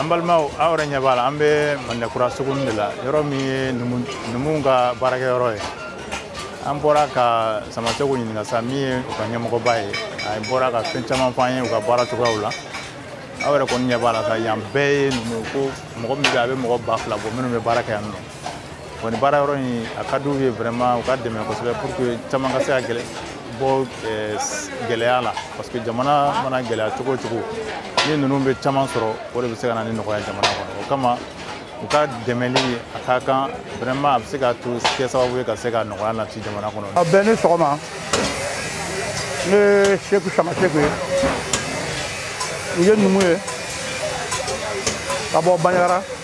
an balimaw aw yɛrɛ ɲɛ b'a la an bɛ madinakura suguni de la yɔrɔ min ye numuw ka baarakɛyɔrɔ ye an bɔra ka samaseku ɲininka sa min ye u ka ɲɛmɔgɔba ye a bɔra ka fɛn caman fɔ an ye u ka baara cogoyaw la aw yɛrɛ kɔni ɲɛ b'a la sa yan bɛɛ ye numu ko mɔgɔ min bɛ a bɛ mɔgɔ ba fila bɔ minnu bɛ baara kɛ yan nɔ Bon ni baara yɔrɔ in a ka d'u ye vraiment u ka dɛmɛ kosɛbɛ pour que caman ka se ka gɛlɛ bɔ eh, gɛlɛya la parce que jamana mana gɛlɛya cogo o cogo ni ninnu bɛ caman sɔrɔ o de bɛ se ka na ni nɔgɔya jamana kɔnɔ o kama u ka dɛmɛli a ka kan vraiment a bɛ se ka to kɛ sababu ye ka se ka nɔgɔya nati jamana kɔnɔ. a bɛɛ ni sɔgɔma ne ye seku samaseku ye n ye numu ye ka bɔ banjagara.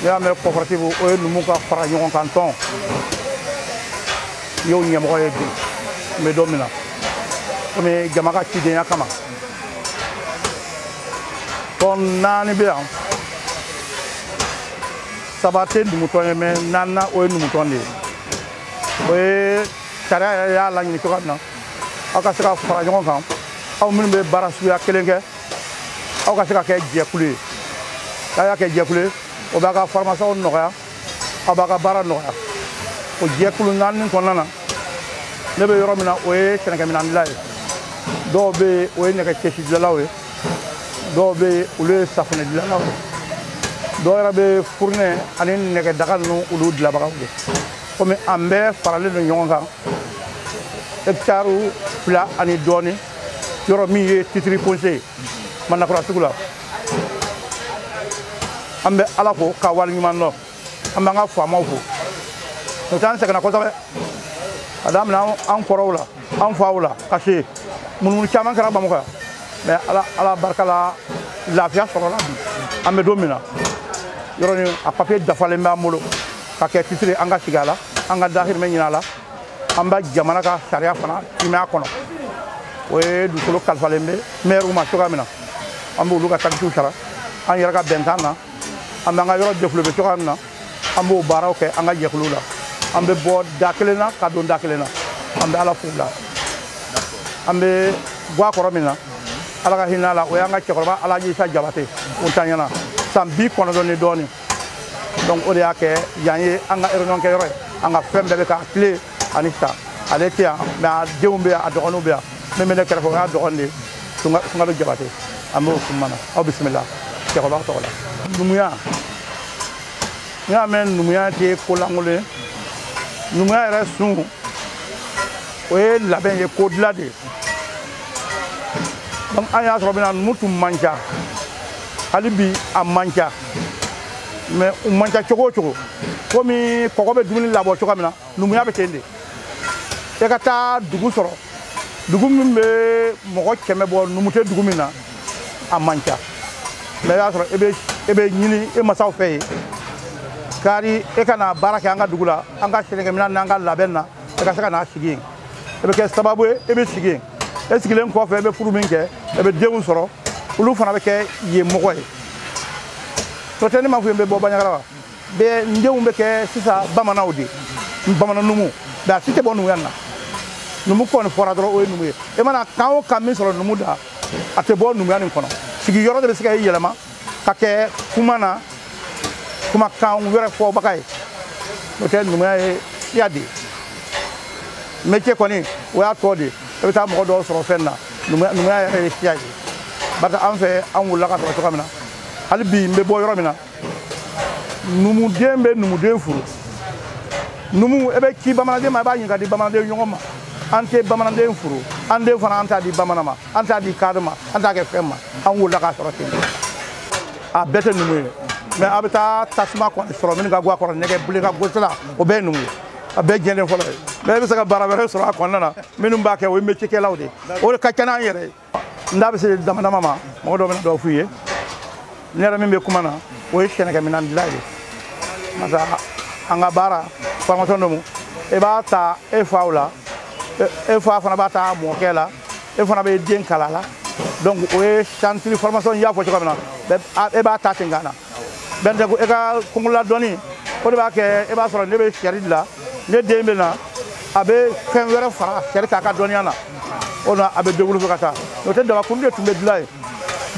n'i y'a mɛn coopérative o ye numu ka fara ɲɔgɔn kan tɔn n y'o ɲɛmɔgɔ ye bi n bɛ don min na komi jama ka cidenya kama tɔn naani bɛ yan saba tɛ numutɔn ye mais naaninan o ye numutɔn de ye o ye sariya yɛrɛ y'a laɲini cogoya min na aw ka se ka fara ɲɔgɔn kan aw minnu bɛ baara suguya kelen kɛ aw ka se ka kɛ jɛkulu ye n'a y'a kɛ jɛkulu ye o b'a ka formation nɔgɔya aw b'a ka baara nɔgɔya o jɛkulu naani kɔnɔna na ne bɛ yɔrɔ min na o ye sɛnɛkɛminɛn dilan ye dɔw bɛ yen o ye nɛgɛ cɛsi dilanlaw ye dɔw bɛ yen olu ye safunɛ dilanlaw ye dɔw yɛrɛ bɛ furunɛ ani nɛgɛ daga ninnu olu dilanbagaw ye komi an bɛɛ faralen don ɲɔgɔn kan hɛkitari fila ani dɔɔnin yɔrɔ min ye titre foncier ye manakura sugu la an bɛ ala fo k'a waleɲuman dɔn an b'an ka faamaw fo n'o t'an sɛgɛnna kosɛbɛ ka daminɛ an kɔrɔw la an faw la ka se munumunu caman kɛra bamakɔ yan mais ala ala barika la lafiya sɔrɔla bi an bɛ don min na yɔrɔ nin a papiye dafalen b'an bolo ka kɛ titre an ka sigi a la an ka dahirimɛ ɲini a la an bɛ jamana ka sariya fana timɛ a kɔnɔ o ye dugukolo kalifalen bɛ mɛriw ma cogoya min na an b'olu ka takisiw sara an yɛrɛ ka bɛnkan na an b'an ka yɔrɔ développer cogoya min na an b'o baaraw kɛ an ka jɛkulu la an bɛ bɔ da kelen na ka don da kelen na an bɛ ala fo la an bɛ gwa kɔrɔ min na ala ka hinɛ a la o y'an ka cɛkɔrɔba alaji isa jabate o tanyana san bi kɔnɔntɔn ni dɔɔnin donc o de y'a kɛ yan ye an ka réunion kɛyɔrɔ ye an ka fɛn bɛɛ bɛ k'a tile ani sa ale tɛ yan mais a denw bɛ yan a dɔgɔninw bɛ yan min bɛ ne kɛrɛfɛ o y'a dɔgɔnin de ye sunkalo jabate an b'o suma na aw bisimila cɛkɔrɔba tɔgɔ la numuya n'i y'a mɛn numuya tɛ ko lankolon ye numuya yɛrɛ sun o ye labɛn ye ko dilan de ye donc an y'a sɔrɔ bɛna numu tun man ca hali bi a man ca mais u man ca cogo o cogo komi kɔgɔ bɛ dumuni labɔ cogoya min na numuya bɛ ten de e ka taa dugu sɔrɔ dugu min bɛ mɔgɔ kɛmɛ bɔ numu tɛ dugu min na a man ca mais i y'a sɔrɔ e bɛ ɲini e masaw fɛ yen kari e ka na baara kɛ an ka dugu la an ka sɛnɛkɛminɛn n'an ka labɛn na e ka se ka na sigi yen e bɛ kɛ sababu ye e bɛ sigi yen e sigilen kɔfɛ e bɛ furu min kɛ e bɛ denw sɔrɔ olu fana bɛ kɛ yen mɔgɔ ye n'o tɛ ne m'a fɔ i ye n bɛ bɔ baɲagara wa mais n denw bɛ kɛ sisan bamananw de ye bamanan numu mais a si tɛ bɔ numuya nin na numu kɔni fɔra dɔrɔn o ye numu ye e mana kan o kan min sɔrɔ numu da a tɛ bɔ numuya nin kɔnɔ sigiyɔrɔ de bɛ se ka e yɛlɛma ka kɛ kuma na kumakan wɛrɛ fɔbaga ye n'o tɛ numuya ye siya de ye métier kɔni o y'a tɔ de ye i bɛ taa mɔgɔ dɔw sɔrɔ fɛn na numuya yɛrɛ ye siya ye bari an fɛ an wulila k'a sɔrɔ cogoya min na hali bi n bɛ bɔ yɔrɔ min na numuden bɛ numuden furu numu e bɛ ci bamananden ma i b'a ɲini k'a di bamananden ɲɔgɔn ma an tɛ bamananden furu an den fana an t'a di bamanan ma an t'a di kadɔ ma an t'a kɛ fɛn ma an wulila k'a sɔrɔ ten a bɛɛ tɛ numu ye mais a bɛ taa tasuma kɔni sɔrɔ minnu ka guwa kɔrɔ nɛgɛ bilen ka gosi la o bɛɛ ye numu ye a bɛɛ jɛlen fɔlɔ ye mais e bɛ se ka baara wɛrɛ sɔrɔ a kɔnɔna na minnu b'a kɛ o ye métier kɛlaw de ye o de ka ca n'an yɛrɛ ye n da bɛ se dama dama ma mɔgɔ dɔ bɛna dɔ f'u ye ne yɛrɛ min bɛ kuma na o ye sɛnɛkɛminɛn dilan ye parce que an ka baara formation domu e b'a ta e faw la e fa fana b'a ta mɔkɛ la e fana bɛ den kalan la donc o ye chantier formation y'a fɔ cogo min na e b'a ta ten ka na bɛn de ko e ka kunkolola dɔnni o de b'a kɛ e b'a sɔrɔ ne bɛ sɛri dilan ne den bɛ na a bɛ fɛn wɛrɛ fara sɛri kan a ka dɔnniya na o na a bɛ développé ka taa n'o tɛ dabakuru de tun bɛ dilan yen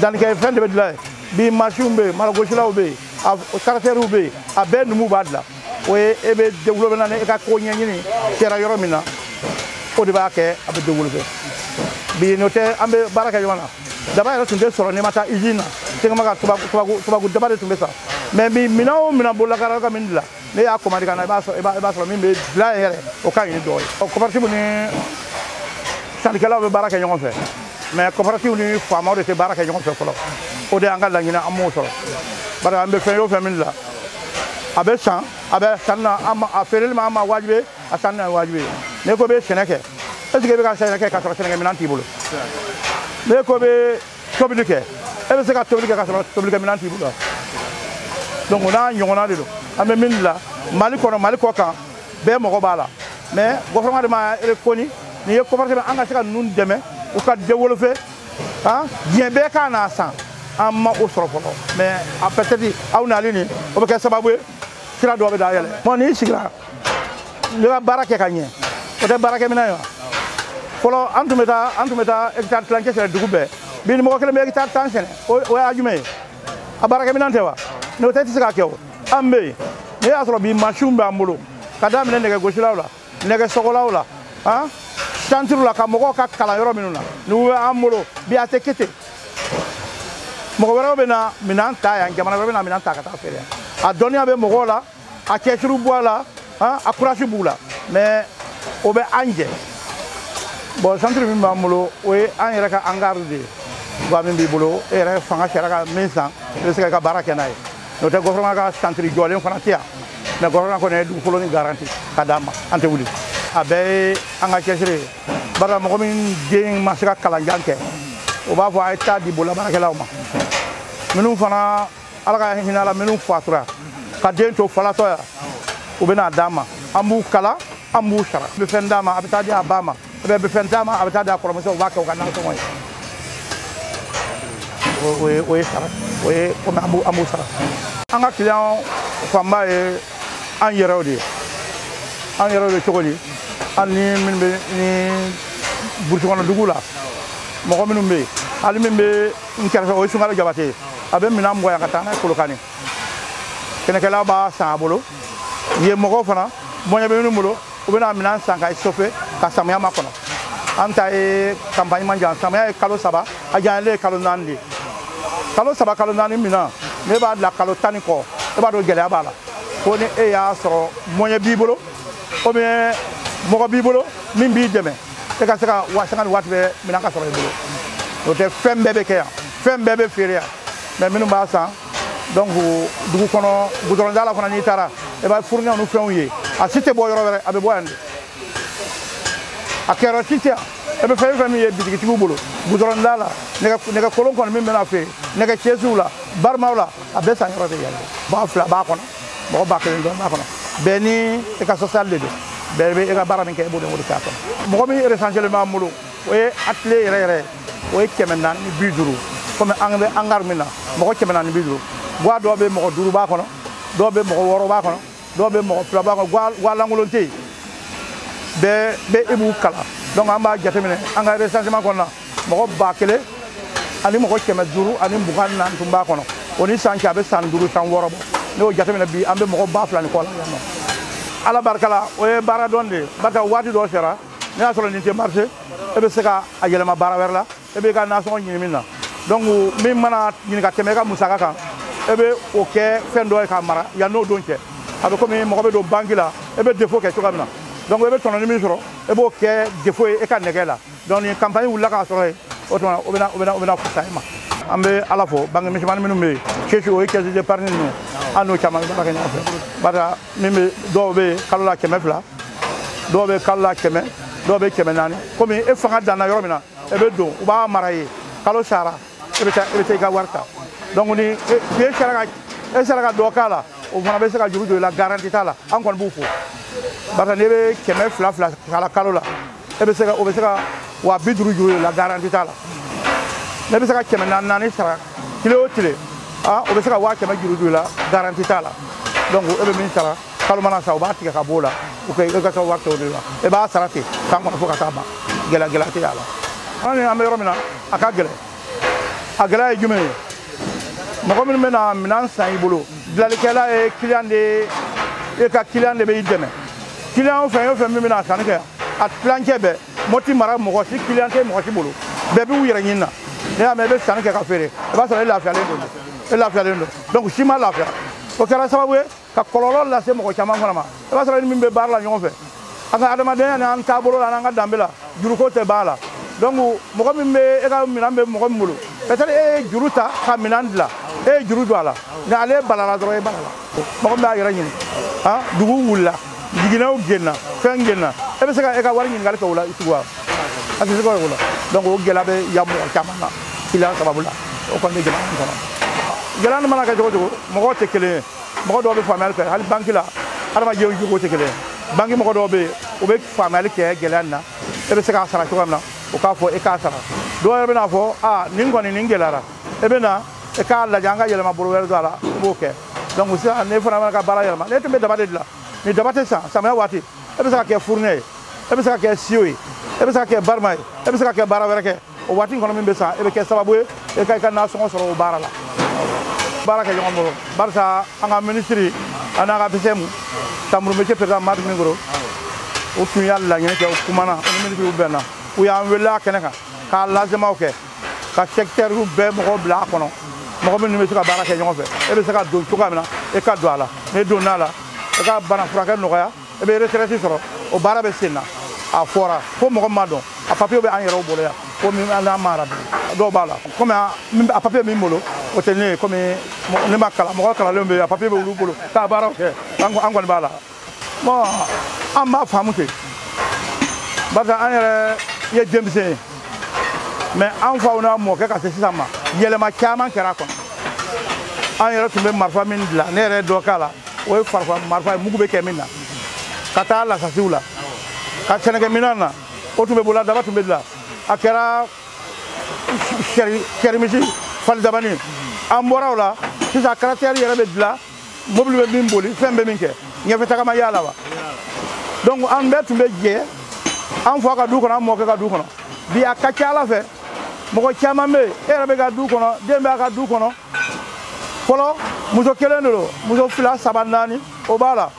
dannikɛfɛn de bɛ dilan yen bi masinw bɛ yen malogosilanw bɛ yen a karatɛriw bɛ yen a bɛɛ numu b'a dilan o ye e bɛ développé na ni e ka ko ɲɛɲini kɛra yɔrɔ min na o de b'a kɛ a bɛ développé bi n'o tɛ an bɛ baara kɛ ɲɔgɔn na daba yɛrɛ tun tɛ sɔrɔ n'i ma taa usine na tegema ka tubabu daba de tun bɛ san mais bi minɛn o minɛn bololakara ka min dilan n'e y'a commandé ka na i b'a sɔrɔ min bɛ dilan yɛrɛ o ka ɲi ni dɔ ye ɔ coopérative ni syndicalaw bɛ baara kɛ ɲɔgɔn fɛ mais coopérative ni faamaw de tɛ baara kɛ ɲɔgɔn fɛ fɔlɔ o de y'an ka laɲini an m'o sɔrɔ bari an bɛ fɛn o fɛn min la a bɛ san a bɛ sanni na a feereli ma an ma wajibi a sanni na wajibi ye n'i ko bɛ sɛnɛ kɛ est ce que i bɛ ka sɛnɛ kɛ k'a sɔrɔ sɛnɛkɛ minɛn t'i bolo n'i ko bɛ tobili kɛ e bɛ se ka tobili kɛ k'a sɔrɔ tobilikɛ minɛn t'i bolo donc o n'a ɲɔgɔnna de don an bɛ min la mali kɔnɔ mali kɔ kan bɛɛ mɔgɔ b'a la mais gouvernement de ma reconnu n'i ye ko franchement an ka se ka ninnu dɛmɛ u ka développer han diɲɛ bɛɛ ka n'a san an ma o sɔrɔ fɔlɔ mais a peut-être aw nali nin o bɛ kɛ sababu ye sira dɔ bɛ dayɛlɛ mɔ n'i sigira ne ka baara kɛ ka ɲɛ o tɛ baarakɛminɛn ye wa fɔlɔ an tun bɛ taa an tun bɛ taa hectare tilancɛ sɛnɛ dugu bɛɛ bi ni mɔgɔ kelen bɛ hectare tan sɛnɛ o y'a jumɛn ye a baarakɛminɛn tɛ wa n'o tɛ i tɛ se k'a kɛ o an bɛ yen n'i y'a sɔrɔ bi mansinw b'an bolo ka daminɛ nɛgɛgosilaw la nɛgɛsɔgɔlaw la han santiriw la ka mɔgɔw ka kalan yɔrɔ minnu na ni u bɛ an bolo bi a tɛ kɛ ten mɔgɔ wɛrɛw bɛ na minɛn ta yan jamana bɛ na minɛn ta ka taa feere a dɔnniya bɛ mɔgɔw la a cɛsiri b'u la han a kurasi b'u la mais o bɛ an jɛ bɔn santiri min b'an bolo o ye an yɛrɛ ka angari de ye wa min b'i bolo e yɛrɛ fanga sera ka min san i bɛ se ka baara kɛ n'a ye n'o tɛ gɔfɛrɛnaman ka santiri jɔlen fana tɛ yan mɛ gɔfɛrɛnaman kɔni ye dugukolo ni garanti k'a d'an ma an tɛ wuli a bɛɛ ye an ka cɛsiri ye barisa mɔgɔ min den ma se ka kalanjan kɛ o b'a fɔ a ye taa di bololabaarakɛlaw ma minnu fana ala ka hinɛ a la minnu fatura ka den to falatɔ yan u bɛna d'an ma an b'u kalan an b'u sara a bɛ fɛn d'a ma a bɛ taa di a ba ma e bɛ fɛn d'a ma a bɛ taa di a kɔrɔmuso u b'a kɛ u ka nasɔngɔ ye o ye o ye sara o ye komi an b'u sara an ka kiliyan fanba ye an yɛrɛw de ye an yɛrɛw de cogo di an ni minnu bɛ ni burusi kɔnɔ dugu la mɔgɔ minnu bɛ yen hali min bɛ n kɛrɛfɛ o ye sungalo jabate ye a bɛ minɛn bɔ yan ka taa n'a ye kolokani sɛnɛkɛlaw b'a san a bolo yen mɔgɔw fana moyen bɛ minnu bolo u bɛna minɛn san ka sofe ka samiya makɔnɔ an ta ye kanpaɲi man jan samiya ye kalo saba a janyalen ye kalo naani de kalo saba kalo naani minɛn n'e b'a bila kalo tan ni kɔ e b'a dɔn gɛlɛya b'a la ko ni e y'a sɔrɔ moyen b'i bolo ou bien mɔgɔ b'i bolo min b'i dɛmɛ e ka se ka wa sanga ni waati bɛɛ minɛn ka sɔrɔ i bolo o tɛ fɛn bɛɛ bɛ kɛ yan fɛn bɛɛ bɛ feere yan mɛ minnu b'a san donc dugu kɔnɔ gudɔrɔnda la fana n'i taara i b'a furunɛw ni fɛnw ye a si tɛ bɔ yɔrɔ wɛrɛ a bɛɛ bɔ yan de a kɛyɔrɔ si tɛ e bɛ fɛn fɛn min ye bitigitigiw bolo gudɔrɔnda la nɛgɛ kolon kɔni min mana feere nɛgɛ kɛsuw la baramaw la a bɛɛ san yɔrɔ de yan ba fila b'a kɔnɔ mɔgɔ ba kelen dɔrɔn b'a kɔnɔ bɛɛ ni e ka social de don bɛɛ bɛ e ka baara min kɛ e b'o de wele k'a kɔnɔ mɔgɔ min eresanselen b'an bolo o ye atelier yɛrɛ yɛrɛ ye o ye kɛmɛ naani ni bi duuru komi an bɛ angari min na mɔgɔ kɛmɛ naani ni bi duuru gwa dɔw bɛ mɔgɔ duuru b'a kɔnɔ dɔw bɛ mɔgɔ wɔɔrɔ b'a kɔnɔ dɔw bɛ mɔgɔ fila b'a kɔnɔ gwa lankolon tɛ yen bɛɛ bɛ e b'u kalan donc an b'a jateminɛ an ka recensement kɔnɔna mɔgɔ ba kelen ani mɔgɔ kɛmɛ duuru ani mugan naani tun b'a kɔnɔ o ni san cɛ a bɛ san duuru san wɔɔrɔ bɔ n'i y'o jateminɛ bi an bɛ mɔgɔ ba fila ni kɔ la yan nɔ ala barika la o ye baara dɔn de ye barisa waati dɔ sera n'i y'a sɔrɔ nin tɛ marché e bɛ se ka a yɛlɛma baara wɛrɛ la e b'i ka nasɔngɔ ɲini min na donc min mana ɲini ka tɛmɛ e ka musaka kan e bɛ o kɛ fɛn dɔ ye k'a mara yanni o don cɛ a bɛ komi mɔgɔ bɛ don banki la e bɛ dépôt kɛ cogoya min na donc e bɛ tɔnɔni min sɔrɔ e b'o kɛ dépôt ye e ka nɛgɛ la donc ni campagne wulila k'a sɔrɔ yen o tuma o bɛna o bɛna o bɛna fisa e ma an bɛ ala fo banki misɛnmani minnu bɛ yen caisse o ye caisse d'épargne ninnu an n'u caman bɛ baara kɛ ɲɔgɔn fɛ barisa min bɛ dɔw bɛ yen kalo la kɛmɛ fila dɔw bɛ kalo la kɛmɛ dɔw bɛ kɛmɛ naani komi e fanga danna yɔrɔ min na e bɛ don u b'a mara i ye kalo sara e bɛ taa e bɛ taa i ka wari ta donc ni e sera ka e sera ka dɔ k'a la o fana bɛ se ka juru don i la garanti t'a la an kɔni b'u fo barisa n'i bɛ kɛmɛ fila fila k'a la kalo la e bɛ se ka o bɛ se ka waa bi duuru juru e la garanti t'a la n'i bɛ se ka kɛmɛ naani naani sara tile o tile a o bɛ se ka waa kɛmɛ juru juru i la garanti t'a la donc e bɛ min sara kalo mana sa u b'a tigɛ ka b'o la u ka e ka taa wari kɛ o de la e b'a sara ten san kɔnɔ fo ka taa ban gɛlɛya gɛlɛya tɛ a la an ni an bɛ yɔrɔ min na a ka gɛlɛn a gɛlɛya ye jumɛn ye mɔgɔ minnu bɛ na minɛn san i bolo dilanlikɛla ye kiliyan de ye e ka kiliyan de bɛ i dɛmɛ kiliyan fɛn o fɛn min bɛ na sanni kɛ a tilancɛ bɛɛ moti mara mɔgɔ si kiliyan tɛ mɔgɔ si bolo bɛɛ b'u yɛrɛ ɲini na n'i y'a mɛn i bɛ sanni kɛ ka feere i b'a sɔrɔ e lafiyalen don e lafiyalen don donc si ma lafiya o kɛra sababu ye ka kɔlɔlɔ lase mɔgɔ caman fana ma i b'a sɔrɔ ni min bɛ baara la ɲɔgɔn fɛ an ka adamadenya ni an taabolo la n'an ka danbe la juruko tɛ b'a la donc mɔgɔ min bɛ e ka minɛn bɛ mɔgɔ min bolo peut-être e ye juru ta ka minɛn dilan e ye juru don a la nka ale balala dɔrɔn e balala mɔgɔ min b'a yɛrɛ ɲini han dugu wulila jiginɛw genna fɛn genna e bɛ se ka e ka wari ɲininkali kɛ o la tugun wa a tɛ se ka kɛ o la donc o gɛlɛya bɛ yan mɔgɔ caman na kiliyan sababu la o kɔni bɛ jamana in kɔnɔ gɛlɛya nin mana kɛ cogo o cogo mɔgɔw tɛ kelen ye mɔgɔ dɔw bɛ faamuyali kɛ hali banki la adamadenw jogo tɛ kelen banki mɔgɔ dɔw bɛ yen u bɛ faamuyali kɛ gɛlɛya nin na e bɛ se k'a sara cogoya min na u k'a fɔ e k'a sara dɔw yɛrɛ bɛna a fɔ aa nin kɔni nin gɛlɛyara e bɛ na e k'a lajɛ an ka yɛlɛma bolo wɛrɛ don a la i b'o kɛ donc sisan ne fana mana ka baara yɛlɛma n'e tun bɛ daba de dilan ni daba tɛ san samiya waati e bɛ se k'a kɛ furunɛ ye e bɛ se k'a kɛ siyo ye e bɛ se k'a kɛ barama ye e bɛ se ka kɛ baara wɛrɛ kɛ o waati kɔnɔ min bɛ san e bɛ kɛ sababu ye e ka i ka nasɔngɔ sɔrɔ o baara la baara kɛ ɲɔgɔn bolo barisa an ka minisiri an n'an ka APCM chambre métiers perezidan madu minkoro o tun y'a laɲini kɛ o kumana o ni minisiriw bɛnna u y'an wele a kɛnɛ kan k'a lazemaw kɛ ka sɛkitɛriw bɛɛ mɔgɔw bila a kɔnɔ mɔgɔ minnu bɛ se ka baara kɛ ɲɔgɔn fɛ e bɛ se ka don cogoya min na e ka don a la n'i donna a la e ka bana furakɛ nɔgɔya e bɛ retraite sɔrɔ o baara bɛ sen na a fɔra fo mɔgɔ ma dɔn a papiye bɛ an yɛrɛw bolo yan komi an kamaradi dɔw b'a la komi a papiye min bolo o tɛ ne ye komi ne ma kalan mɔgɔ kalanlen bɛ yen a papiye bɛ olu bolo k'a baaraw kɛ an kɔni b'a la bon an b'a faamu ten barisa an yɛrɛ ye denmisɛn ye mɛ an faw n'a mɔkɛ ka se sisan ma yɛlɛma caman kɛra a kɔnɔ an yɛrɛ tun bɛ marifa min dilan ne yɛrɛ dɔ k'a la o ye farafin marifa ye mugu bɛ kɛ min na ka taa lasasiw la ka sɛnɛkɛminɛn na o tun bɛ bolo la daba tun bɛ dilan a kɛra sarimisi falidabanin an bɔra o la sisan karatɛri yɛrɛ bɛ dilan mobili bɛ min bolifɛn bɛ min kɛ ɲɛfɛ tagama y'a la wa donc an bɛɛ tun bɛ jɛ an fa ka du kɔnɔ an mɔkɛ ka du kɔnɔ bi a ka ca a la fɛ mɔgɔ caman bɛ yen e yɛrɛ bɛ ka du kɔnɔ den bɛ a ka du kɔnɔ fɔlɔ muso kelen de don muso fila saba naani o b'a la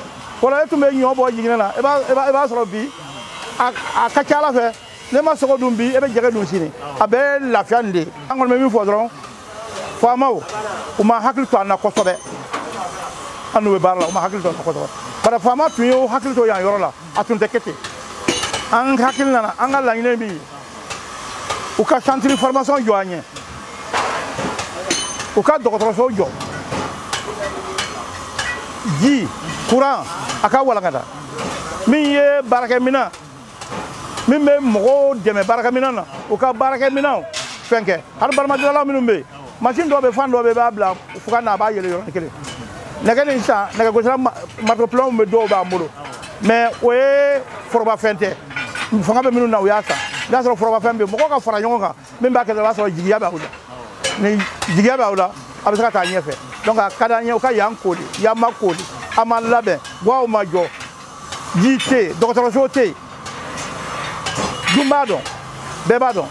fɔlɔ e tun bɛ ɲɔ bɔ jiginɛ na i b'a sɔrɔ bi a ka ca a la fɛ n'e ma sogo dun bi e bɛ jɛgɛ dun sini a bɛɛ lafiya nin de ye an kɔni bɛ min fɔ dɔrɔn faamaw u ma hakili to an na kosɛbɛ an n'u bɛ baara la u ma hakili to an na kosɛbɛ bari faama tun y'o hakili to yan yɔrɔ la a tun tɛ kɛ ten an hakilina na an ka laɲini min ye u ka santiri formation jɔ an ye u ka dɔgɔtɔrɔso jɔ ji kuran a ka walankata min ye baarakɛminɛn min bɛ mɔgɔw dɛmɛ baarakɛminɛn na u ka baarakɛminɛnw fɛn kɛ hali baramadilalaw minnu bɛ yen masini dɔ bɛ fan dɔ bɛ i b'a bila fugan na a b'a yeele yɔrɔnin kelen nɛgɛ nin sisan nɛgɛgosira maritopilɔnw bɛ dɔw b'an bolo mɛ o ye forobafɛn tɛ fanga bɛ minnu na u y'a san n'a sɔrɔ forobafɛn bɛ yen mɔgɔw ka fara ɲɔgɔn kan min b'a kɛ dɔrɔn o b'a sɔrɔ jigiya b'aw la ni jigiya b'aw la a bɛ se ka taa ɲɛfɛ donc a ka d'an ye u ka yan kooli yan ma kooli a ma labɛn gwaw ma jɔ ji tɛ yen dɔgɔtɔrɔso tɛ yen dun b'a dɔn bɛɛ b'a dɔn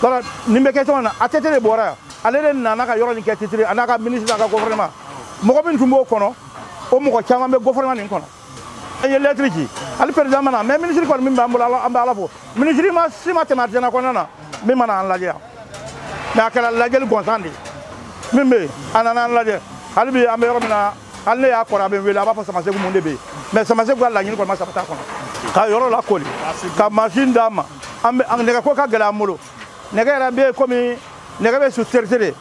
wala nin bɛ kɛ cogo min na ATT de bɔra yan ale de nana ka yɔrɔ nin kɛ titiri a n'a ka minisiri n'a ka gɔfɛrɛnɛma mɔgɔ min tun b'o kɔnɔ o mɔgɔ caman bɛ gɔfɛrɛnɛma nin kɔnɔ an ye lɛtiri ci hali perezidan ma na mɛ minisiri kɔni min b'an bolo an bɛ ala fo minisiri maa si ma tɛmɛ artisanat kɔnɔna na min ma na an lajɛ yan mɛ a kɛra lajɛli gansan de min bɛ yen a nana an lajɛ hali bi an bɛ yɔrɔ min na hali ne y'a kɔrɔ a bɛ n wele a b'a fɔ samasegu mun de bɛ yen mɛ samasegu ka laɲini kɔni ma sabati k'anw ka yɔrɔ lakoori ka masini d'an ma an bɛ nɛgɛko ka gɛlɛn an bolo nɛgɛ yɛrɛ bɛ komi nɛgɛ bɛ sous-traité de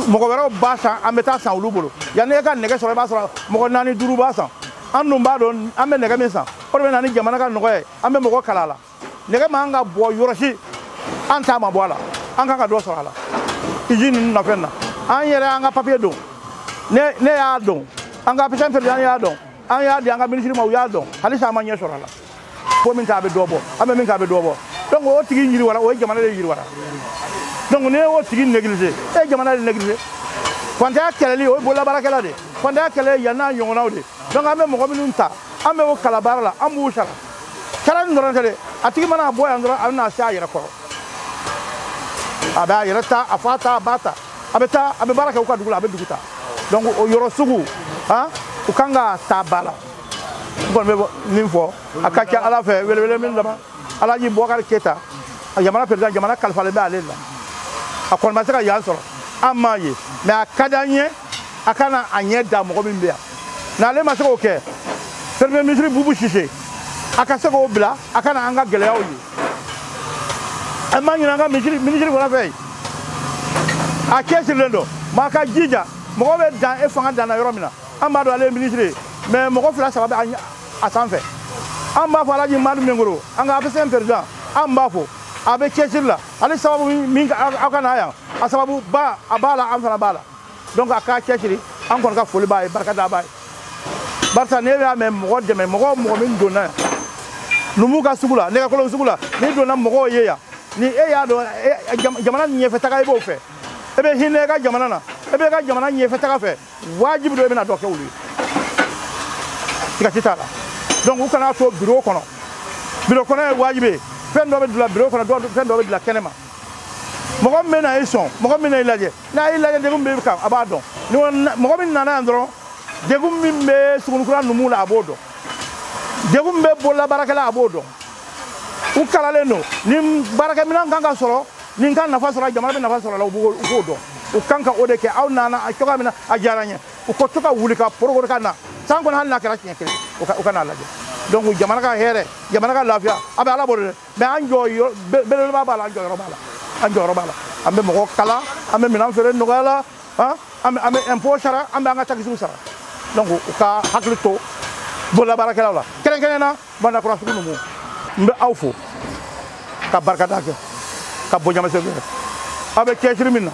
mɔgɔ wɛrɛw b'a san an bɛ taa san olu bolo yanni e ka nɛgɛ sɔrɔ i b'a sɔrɔ mɔgɔ naani duuru b'a san an dun b'a dɔn an bɛ nɛgɛ min san o de bɛ na ni jamana ka nɔgɔya ye an bɛ mɔgɔ kalan a la nɛgɛ man kan ka bɔ yɔrɔ si an ta ma bɔ a la an kan ka dɔ sɔrɔ a la izini ninnu na fɛn na an yɛrɛ an ka papiye don ne y'a dɔn an ka apcm peresidan y'a dɔn an y'a di an ka minisiri ma u y'a dɔn halisa an ma ɲɛ sɔrɔ a la ko min k'a bɛ dɔ bɔ an bɛ min k'a bɛ dɔ bɔ donc o tigi yiriwara o ye jamana de yiriwara donc n'i y'o tigi neglige e ye jamana de neglige fantanya kɛlɛli o ye bololabaarakɛla de ye fantanya kɛlɛ yan n'a ɲɔgɔnnaw de donc an bɛ mɔgɔ minnu ta an bɛ o kalan baara la an b'u sara sara nin dɔrɔn tɛ dɛ a tigi mana bɔ yan dɔrɔn a bɛna se a yɛrɛ kɔrɔ a bɛ a yɛrɛ ta a fa ta a ba ta a bɛ taa a bɛ baara kɛ u ka dugu la a bɛ dugu ta donc o yɔrɔ sugu u kan k'a ta ba la n kɔni bɛ nin fɔ a ka ca ala fɛ welewele min dama alaji bubakari keyita a jamana perezidan jamana kalifalen bɛ ale la a kɔni ma se ka yan sɔrɔ an m'a ye mɛ a ka di an ye a ka na a ɲɛ da mɔgɔ min bɛ yan n'ale ma se k'o kɛ premier ministre bubu sise a ka se k'o bila a ka na an ka gɛlɛyaw ye an b'a ɲini an ka minisiri fana fɛ yen a cɛsirilen don mɛ a k'a jija mɔgɔ bɛ dan i fanga danna yɔrɔ min na an b'a dɔn ale ye minisiri ye mɛ mɔgɔ fila saba bɛ a sanfɛ an b'a fo alaji madu minkɔrɔ an ka apcm peresidan an b'a fo a bɛ cɛsiri la ale sababu min aw ka na yan a sababu ba a b'a la an fana b'a la donc a k'a cɛsiri an kɔni ka foli b'a ye barika da b'a ye barisa ne y'a mɛn mɔgɔ dɛmɛ mɔgɔ mɔgɔ min donna yan numu ka sugu la nɛgɛkolon sugu la n'i donna mɔgɔw ye yan ni e y'a dɔn jamana ɲɛfɛ taga i b'o fɛ e bɛ hinɛ i ka jamana na e bɛ i ka jamana ɲɛfɛ taga fɛ wajibi don i bɛna dɔ kɛ olu ye siga t'a la donc u kana to biro kɔnɔ biro kɔnɔ ye wajibi ye fɛn dɔ bɛ dila biro kɔnɔ fɛn dɔ bɛ dila kɛnɛ ma mɔgɔ min bɛna i sɔn mɔgɔ min bɛna i lajɛ n'a y'i lajɛ degun b'i kan a b'a dɔn mɔgɔ min nana yan dɔrɔn degun min bɛ sugunikura numu la a b'o dɔn degun min bɛ bololabaarakɛla a b'o dɔn u kalannen don ni baarakɛminɛn kan ka sɔrɔ nin ka nafa sɔrɔ jamana bɛ nafa sɔrɔ la u k'o dɔn u kan ka o de kɛ aw nana a cogoya min na a diyara n ye u ka to ka wuli ka porokoro ka na san kɔnɔ hali n'a kɛra siɲɛ kelen u ka n'a lajɛ donc jamana ka hɛrɛ jamana ka lafiya a bɛ ala bolo dɛ mais an jɔyɔrɔ belebeleba b'a la an jɔyɔrɔ b'a la an bɛ mɔgɔ kalan an bɛ minɛn feere nɔgɔya la an bɛ impôt sara an bɛ an ka taxes sara donc u ka hakili to bololabaarakɛlaw la kɛrɛnkɛrɛn na bandakura sugu ninnu n bɛ aw fo ka barikada kɛ ka bonyamasegin kɛ aw bɛ cɛsiri min na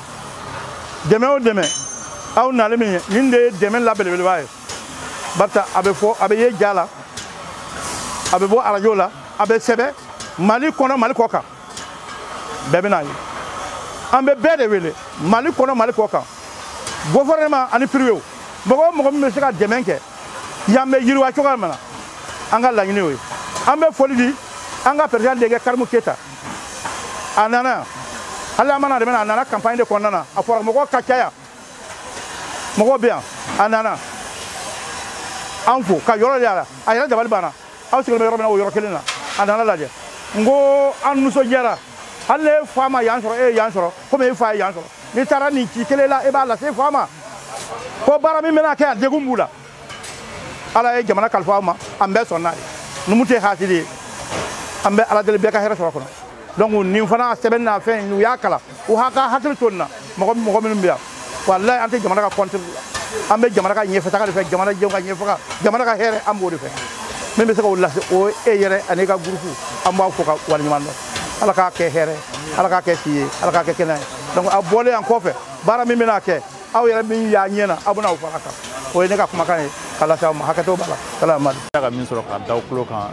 dɛmɛ o dɛmɛ aw nali min ye nin de ye dɛmɛ la belebeleba ye barisa a bɛ fɔ a bɛ ye ja la a bɛ bɔ arajo la a bɛ sɛbɛn mali kɔnɔ mali kɔ kan bɛɛ bɛn'a ye an bɛ bɛɛ de wele mali kɔnɔ mali kɔ kan gouvernement ani privé mɔgɔ o mɔgɔ min bɛ se ka dɛmɛ kɛ yan bɛ yiriwa cogoya min na an ka laɲini y'o ye an bɛ foli di an ka président denkɛ karimu keyita a nana hali a ma na dɛmɛ na a nana kanpaɲi de kɔnɔna na a fɔra mɔgɔ ka ca yan mɔgɔ bɛ yan a nana an fo ka yɔrɔ yaala a yɛrɛ dabali banna aw sigilen bɛ yɔrɔ min na o yɔrɔ kelen na a nana a lajɛ n ko an nisɔndiyara hali n'e fa ma yan sɔrɔ e ye yan sɔrɔ komi e fa ye yan sɔrɔ n'i taara nin ci kelen la e b'a lase e fa ma ko baara min bɛna kɛ a degun b'u la ala ye jamana kalifa aw ma an bɛɛ sɔnna ye numu tɛ hasidi ye an bɛ ala deli bɛɛ ka hɛrɛ sɔrɔ a kɔnɔ donc nin fana sɛbɛnna fɛn u y'a kalan u ha ka hakili to an na mɔgɔ minnu bɛ yan walayi an tɛ jamana ka contre an bɛ jamana ka ɲɛfɛtaga de fɛ jamana jɛw ka ɲɛfɛtaga jamana ka hɛrɛ an b'o de fɛ min bɛ se k'o lase o ye e yɛrɛ ani e ka gurupu an b'aw fo ka waleɲuman dɔn ala k'a kɛ hɛrɛ ala k'a kɛ si ye ala k'a kɛ kɛnɛya ye donc a bɔlen yan kɔfɛ baara min bɛna kɛ aw yɛrɛ min y'a ɲɛ na aw bɛna o fara kan o ye ne ka kumakan ye ka lase aw ma hakɛto b'a la salamadu ka min sɔrɔ ka da aw tulo kan